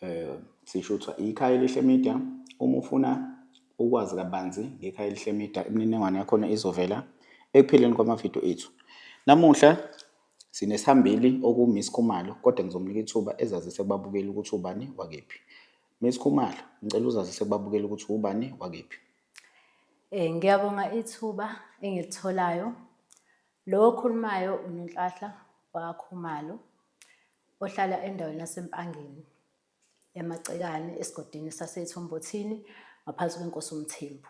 Eh, sisho ukuthi ikhaya elihle media uma ufuna ukwazi kabanzi ngekhaya elihle media imininingwane yakhona izovela ekupheleni kwamavidiyo ethu namuhla sinesihambeli okuwumiss khumalo kodwa ngizomnika ithuba ezazise kubabukeli ukuthi ubani wakephi miss khumalo ngicela uzazise kubabukeli ukuthi ubani wakephi um ngiyabonga ithuba engilitholayo lo okhulumayo unenhlahla wakhumalo ohlala endaweni yaseMpangeni eMacekane esigodini saseThombothini ngaphansi kwenkosi uMthembu.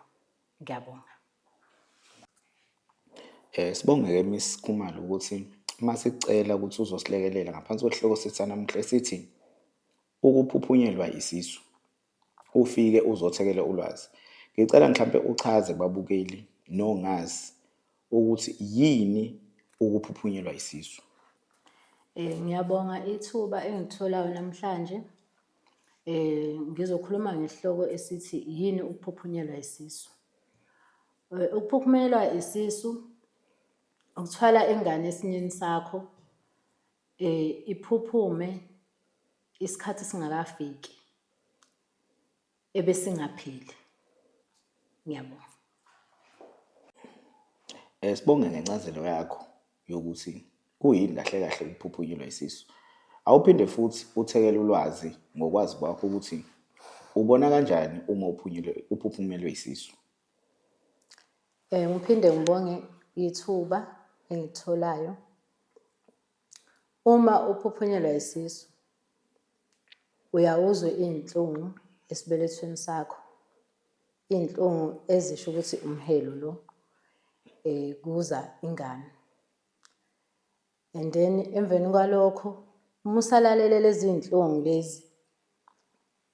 Ngiyabonga. Eh sibongeke Miss Khumalo ukuthi uma sicela ukuthi uzosilekelela ngaphansi kwesihloko sethu sanamuhla esithi ukuphuphunyelwa isisu ufike uzothekele ulwazi. Ngicela mhlampe uchaze kubabukeli nongazi ukuthi yini ukuphuphunyelwa isisu. Eh ngiyabonga ithuba engitholayo namhlanje. Eh ngizokhuluma ngesihloko esithi yini ukuphuphunyelwa isisu. Eh, ukuphuphunyelwa isisu ukuthwala ingane esinyeni sakho Eh iphuphume isikhathi singakafiki ebesingaphili. Ngiyabonga. Eh sibonge ngencazelo yakho yokuthi kuyini kahle kahle ukuphuphunyelwa isisu. Awuphinde futhi uthekele ulwazi ngokwazi kwakho ukuthi ubona kanjani uma uphunyelwe uphuphumelwe isisu. Eh, ngiphinde ngibonge ithuba engitholayo uma uphuphunyelwa isisu uyawuzwe iy'nhlungu esibelethweni sakho iy'nhlungu ezisho ukuthi umhelo lo um kuza ingane And then emveni kwalokho uma usalalele lezi iy'nhlungu lezi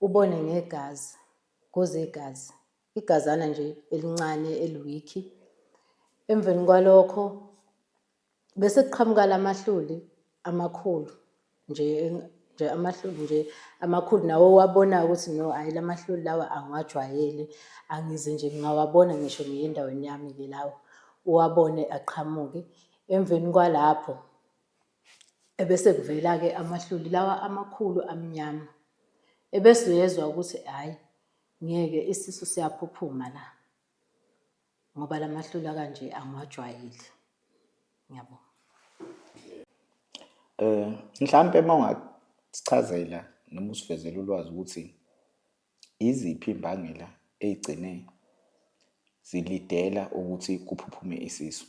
ubone ngegazi kuze igazi igazana nje elincane eliwikhi emveni kwalokho bese kuqhamuka lamahluli amakhulu nje nje amahloni nje amakhulu nawe owabona ukuthi no hayi la mahloni lawa angiwajwayele angize nje ngingawabona ngisho ngiye endaweni yami-ke lawo uwabone aqhamuke emveni kwalapho ebese kuvela-ke amahloli lawa amakhulu amnyama ebese uyezwa ukuthi hhayi ngeke isisu siyaphuphuma la ngoba la mahlula kanje angiwajwayeli ngiyabo eh mhlampe uma ungasichazela noma usivezela ulwazi ukuthi iziphi imbangela eyigcine zilidela ukuthi kuphuphume isisu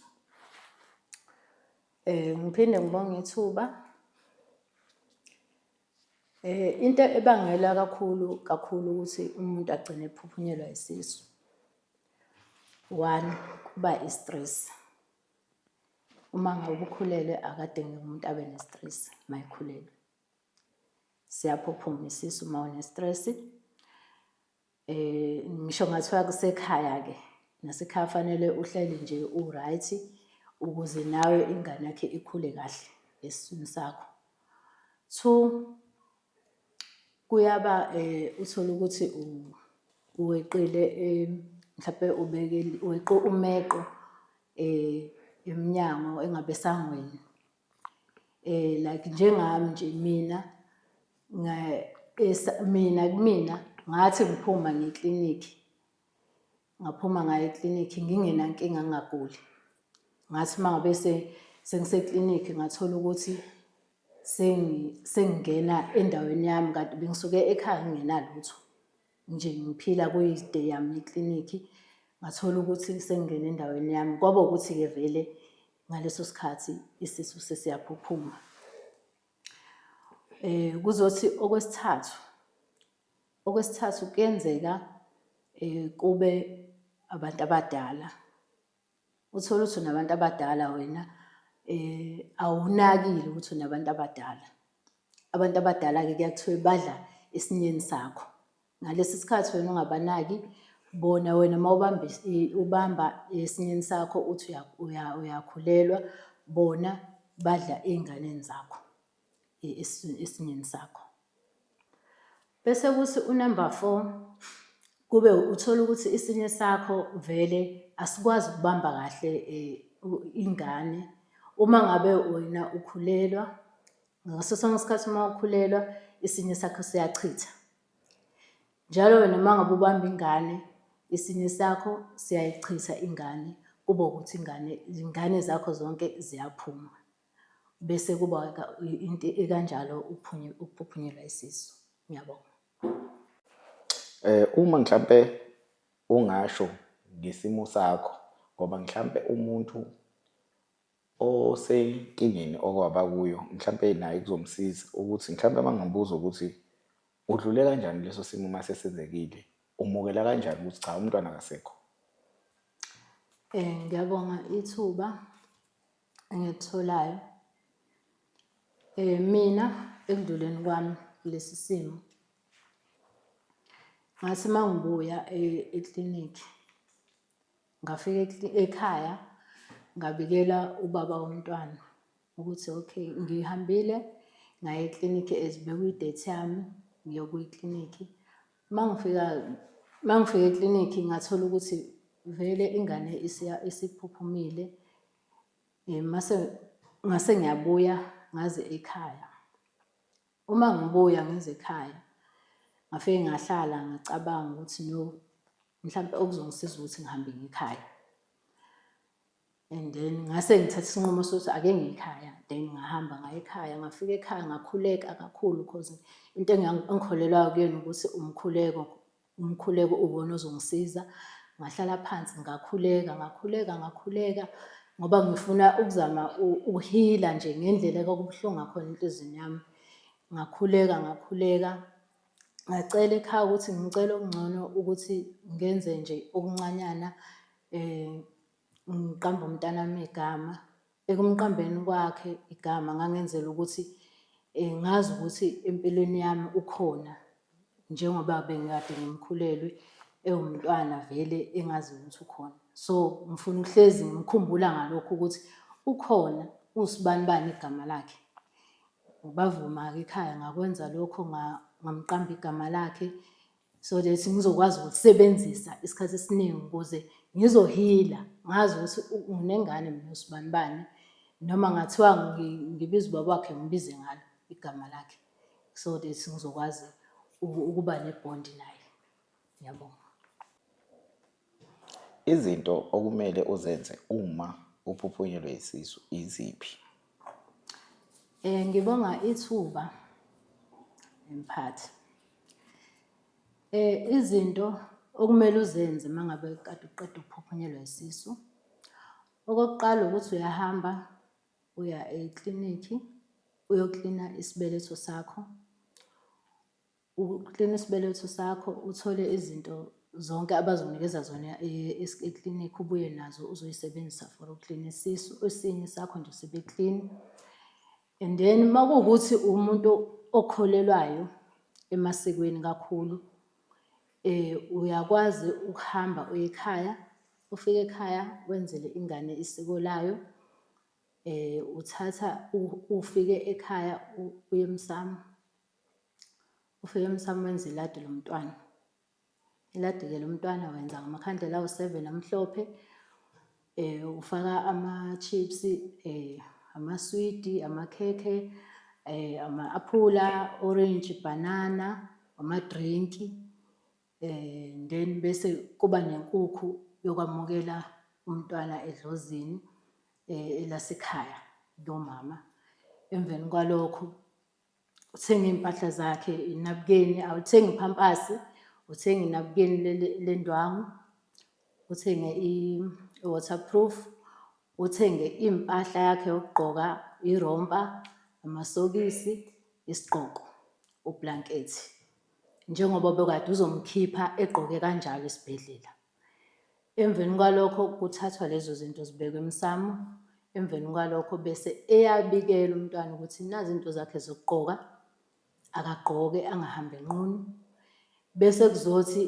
eh ngiphinde ngibonge ithuba eh into ebangela kakhulu kakhulu ukuthi umuntu agcine ephuphunyelwa isisu One, kuba i-stress. Uma ngabe ukhulelwe akadingi umuntu abe ne-stress uma ekhulelwe. Siyaphuphuma isisu uma une-stress. Um ngisho kungathiwa kusekhaya-ke nasekhaya fanele uhleli nje u-right ukuze nawe ingane yakhe ikhule kahle esiswini sakho. Two, kuyaba um uthole ukuthi uweqile um mhlawumpe ubeke weqe umeqo um emnyango engabe esangweni um like njengami nje mina mina kumina ngathi ngiphuma ngeklinikhi Ngaphuma ngaye eklinikhi ngingenankinga ngingaguli. Ngathi uma ngabe sengiseklinikhi ngathola ukuthi sengingena endaweni yami kanti bengisuke ekhaya ngingenalutho. Nje ngiphila kuyi-day yami eklinikhi, ngathola ukuthi sengingene endaweni yami. Kwaba ukuthi-ke vele ngaleso sikhathi isisu sesiyaphuphuma. Kuzothi okwesithathu. Okwesithathu kuyenzeka um kube abantu abadala. Uthole ukuthi unabantu abadala wena um awunakile ukuthi unabantu abadala. Abantu abadala-ke kuya kuthiwe badla esinyeni sakho. Ngalesi sikhathi wena ungabanaki bona wena uma ubamba ubamba esinyeni sakho uthi uyakhulelwa bona badla ey'nganeni zakho. esinyeni sakho. Bese kuthi unumber four kube uthola ukuthi isinye sakho vele asikwazi ukubamba kahle eh, ingane uma ngabe wena ukhulelwa ngaso sonke isikhathi uma ukhulelwa isinye sakho siyachitha njalo wena uma ngabe ubamba ingane isinye sakho siyayichitha ingane kube ukuthi ingane ingane zakho zonke ziyaphuma Bese kuba into ekanjalo ukuphuphunyelwa isisu. Ngiyabonga. Eh uma mhlambe ungasho ngesimo sakho ngoba mhlambe umuntu osenkingeni okwaba kuyo mhlambe naye kuzomsiza ukuthi mhlambe bangambuza ukuthi udlule kanjani leso simo uma sesenzekile umukela kanjani ukuthi cha umntwana akasekho um ngiyabonga ithuba engikutholayo um mina ekudluleni kwami kulesi simo ngathi uma ngibuya e-, eklinikhi ngafika ekhaya ngabikela ubaba womntwana ukuthi okay ngihambile ngaye eklinikhi as bekuyidate yami ngiyokuyiklinikhi Uma ngifika uma ngifika eklinikhi ngathola ukuthi vele ingane isiphuphumile um mase ngase ngiyabuya ngaze ekhaya. Uma ngibuya ngize ekhaya ngafike ngahlala ngacabanga ukuthi no mhlawumpe okuzongisiza ukuthi ngihambe ngikhaya. and then ngase ngithatha isinqumo sokuthi ake ngiyikhaya then ngahamba ngayikhaya ngafika ekhaya ngakhuleka kakhulu because into engikholelwayo kuyena ukuthi umkhuleko umkhuleko uwona ozongisiza ngahlala phansi ngakhuleka ngakhuleka ngakhuleka ngoba ngifuna ukuzama ukuhila nje ngendlela kwakubuhlungu ngakhona enhliziyweni yami ngakhuleka ngakhuleka ngacela ekhaya ukuthi ngicela okungcono ukuthi ngenze nje okuncanyana um ngiqamba umntanami igama. Ekumqambeni kwakhe igama ngangenzela ukuthi eh, ngazi ukuthi empilweni yami ukhona njengoba bengikade ngimkhulelwe ewumntwana vele engazi ukuthi ukhona. So ngifuna uhlezi ngimkhumbula ngalokho ukuthi ukhona usibani bani igama lakhe. Bavuma-ke ekhaya ngakwenza lokho ngamqamba igama lakhe. so that ngizokwazi ukusebenzisa isikhathi esiningi ukuze ngizohila ngazi ukuthi unengane mina usibani bani noma ngathiwa ngibiza ubaba wakhe ngibize ngalo igama lakhe so that ngizokwazi ukuba nebhondi naye ngiyabonga Izinto okumele uzenze uma uphuphunyelwe yisisu iziphi? Eh ngibonga ithuba emphathi. Eh izinto okumele uzenze mangabe kade uqeda ukuphuphunyelwa isisu. Okokuqala ukuthi uyahamba uya eklinikhi uyoklina isibeletho sakho. Uklina isibeletho sakho uthole izinto zonke abazonikeza zona e- es- eklinikhi ubuye nazo uzoyisebenzisa for uklina isisu esinye sakho nje sibe clean and then uma kuwukuthi umuntu okholelwayo emasikweni kakhulu eh uyakwazi ukuhamba uye ekhaya ufike ekhaya wenzele ingane isiko layo eh uthatha u- ufike ekhaya u- uye emsamo Ufike emsamo wenza iladi lomntwana. Iladi-ke lomntwana wenza ngamakhandlela awu-seven amhlophe, um ufaka ama-chips, um amaswidi, amakhekhe, um ama-aphula, orange, bhanana, amadrinki, um then bese kuba nenkukhu yokwamukela umntwana edlozini elasekhaya lomama. Emveni kwalokho. uthenge iy'mpahla zakhe inabukeni awuthengi iphampasi uthenge inabukeni lendwangu uthenge i-waterproof uthenge impahla yakhe yokugqoka irompa amasokisi isigqoko ublankethi njengoba bekade uzomkhipha egqoke kanjalo esibhedlela Emveni kwalokho kuthathwa lezo zinto zibekwe emsamo. Emveni kwalokho bese eyabikela umntwana ukuthi nazi izinto zakhe zokugqoka, akagqoke angahambi enqunu. Bese kuzothi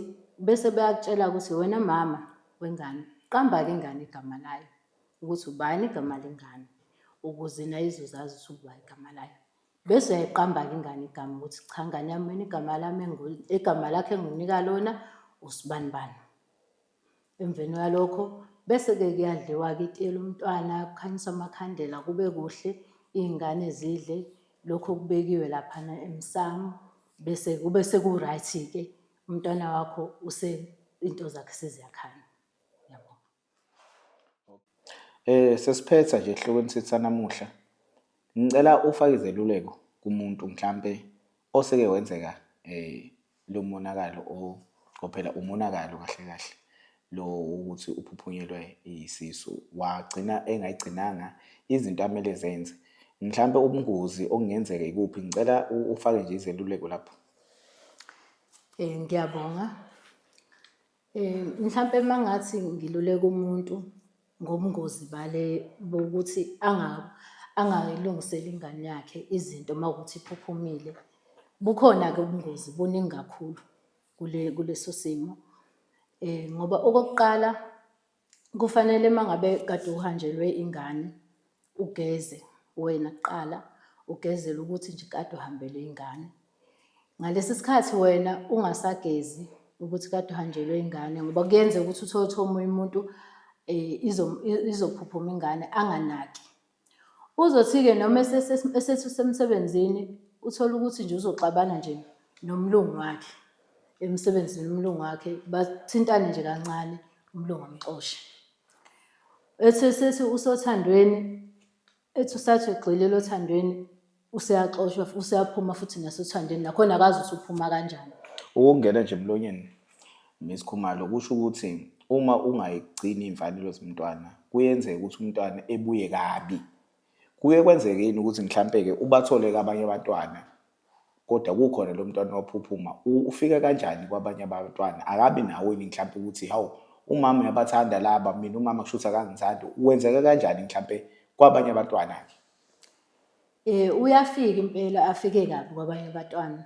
bese beyakutshela ukuthi wena mama wengane qamba-ke ingane igama layo ukuthi ubani igama lengane ukuze nayo izozazi ukuthi uba igama layo. Bese uyayiqamba-ke ingane igama ukuthi cha ngane yami mina igama lami igama lakhe enginika lona usibani bani. Emveni kwalokho bese-ke kuyadliwa-ke itiye lomntwana, kukhanyiswa amakhandela kube kuhle, iy'ngane zidle lokhu okubekiwe laphana emsamo. Bese kube seku-right-ke umntwana wakho into zakhe seziyakhanya. Eh sesiphetha nje ehlokweni sethu sanamuhla. Ngicela ufake izeluleko kumuntu mhlampe oseke wenzeka eh lo monakalo o phela umonakalo kahle kahle lo ukuthi uphuphunyelwe isisu wagcina engayigcinanga izinto amele zenze. Mhlampe ubungozi okungenzeka ikuphi ngicela ufake nje izeluleko lapho. Eh ngiyabonga. Eh mhlampe mangathi ngiluleka umuntu ngobungozi bale bokuthi anga angayilungisela ingane yakhe izinto mawukuthi iphuphumile. Bukhona ke ubungozi buningi kakhulu kule kuleso simo. Eh ngoba okokuqala kufanele uma ngabe kade uhanjelwe ingane ugeze wena kuqala ugezele ukuthi nje kade uhambele ingane ngalesi sikhathi wena ungasagezi ukuthi kade uhanjelwe ingane ngoba kuyenzeka ukuthi uthole ukuthi omunye umuntu um izophuphuma ingane anganaki Uzothi-ke noma esethi usemsebenzini uthole ukuthi nje uzoxabana nje nomlungu wakhe emsebenzini umlungu wakhe bathintane nje kancane umlungu amxoshe ethi sethi usothandweni ethi usathi ugxilile othandweni useyaxoshwa fu- useyaphuma futhi nasothandweni nakhona akazi ukuthi uphuma kanjani ukungena nje emlonyeni Miss Khumalo kusho ukuthi uma ungayigcini imfanelo zomntwana kuyenzeka ukuthi umntwana ebuye kabi kuye kwenzeke yini ukuthi mhlampe ke ubathole kabanye abantwana kodwa kukhona lo mntwana waphuphuma U- ufika kanjani kwabanye abantwana akabi nawo yini mhlampe ukuthi hawu umama uyabathanda laba mina umama kushuthi akangithandi wenzeka kanjani mhlampe kwabanye abantwana ke Eh uyafika impela afike kabi kwabanye abatwana.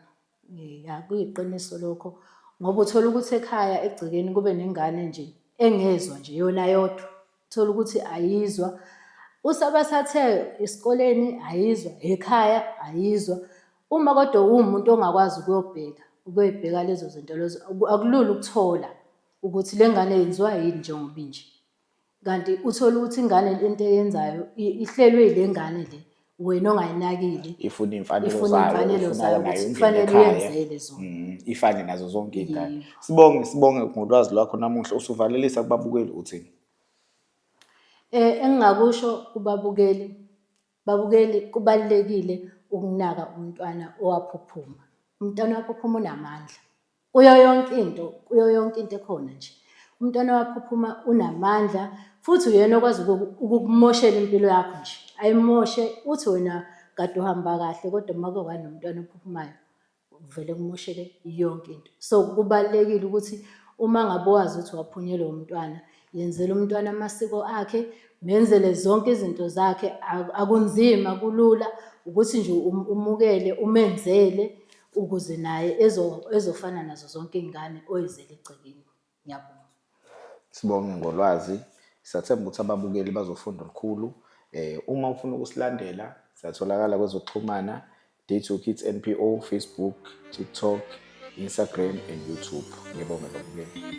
Eh akuyiqiniso lokho ngoba uthola ukuthi ekhaya egcekeni kube nengane nje engezwa nje yona yodwa. Uthola ukuthi ayizwa usabasathe esikoleni ayizwa ekhaya ayizwa. Uma kodwa uwumuntu ongakwazi ukuyobheka ukuyibheka lezo zinto lezo akulula ukuthola ukuthi le ngane yenziwa yini njengoba inje. Kanti uthole ukuthi ingane lento eyenzayo i- ihlelwe ile ngane le wena ongayinakile ifuna iy'mfanelo ifuna zayo imfanelo ifuna zayo nayo ukuthi ingene kufanele ekhaya. uyenzele zona Mm, ifane nazo zonke iy'ngane Yebo. sibonge sibonge ngolwazi lwakho namuhla usuvalelisa kubabukeli uthini Eh engingakusho kubabukeli babukeli kubalekile ukunaka umntwana owaphuphuma. Umntwana waphuphuma unamandla. Kuyo yonke into, kuyo yonke into ekhona nje. Umntwana wakho uphuma unamandla futhi uyena okwazi ukukumoshela impilo yakho nje. Ayimoshe uthi wena kade uhamba kahle kodwa uma kuke kwanomntwana ophuphumayo kuvele kumosheke yonke into. So kubalulekile ukuthi uma ngabe wazi ukuthi waphunyelwa umntwana, yenzela umntwana amasiko akhe, menzele zonke izinto zakhe. Akunzima kulula ukuthi nje um-, umukele umenzele ukuze naye ezofana nazo zonke iy'ngane oyizele egcekeni ngiyabonga sibonge ngolwazi siyathemba ukuthi ababukeli bazofunda olukhulu eh uma ufuna ukusilandela siyatholakala kwezokuxhumana Date Your Kids NPO Facebook TikTok Instagram and YouTube ngibonge ngokubukela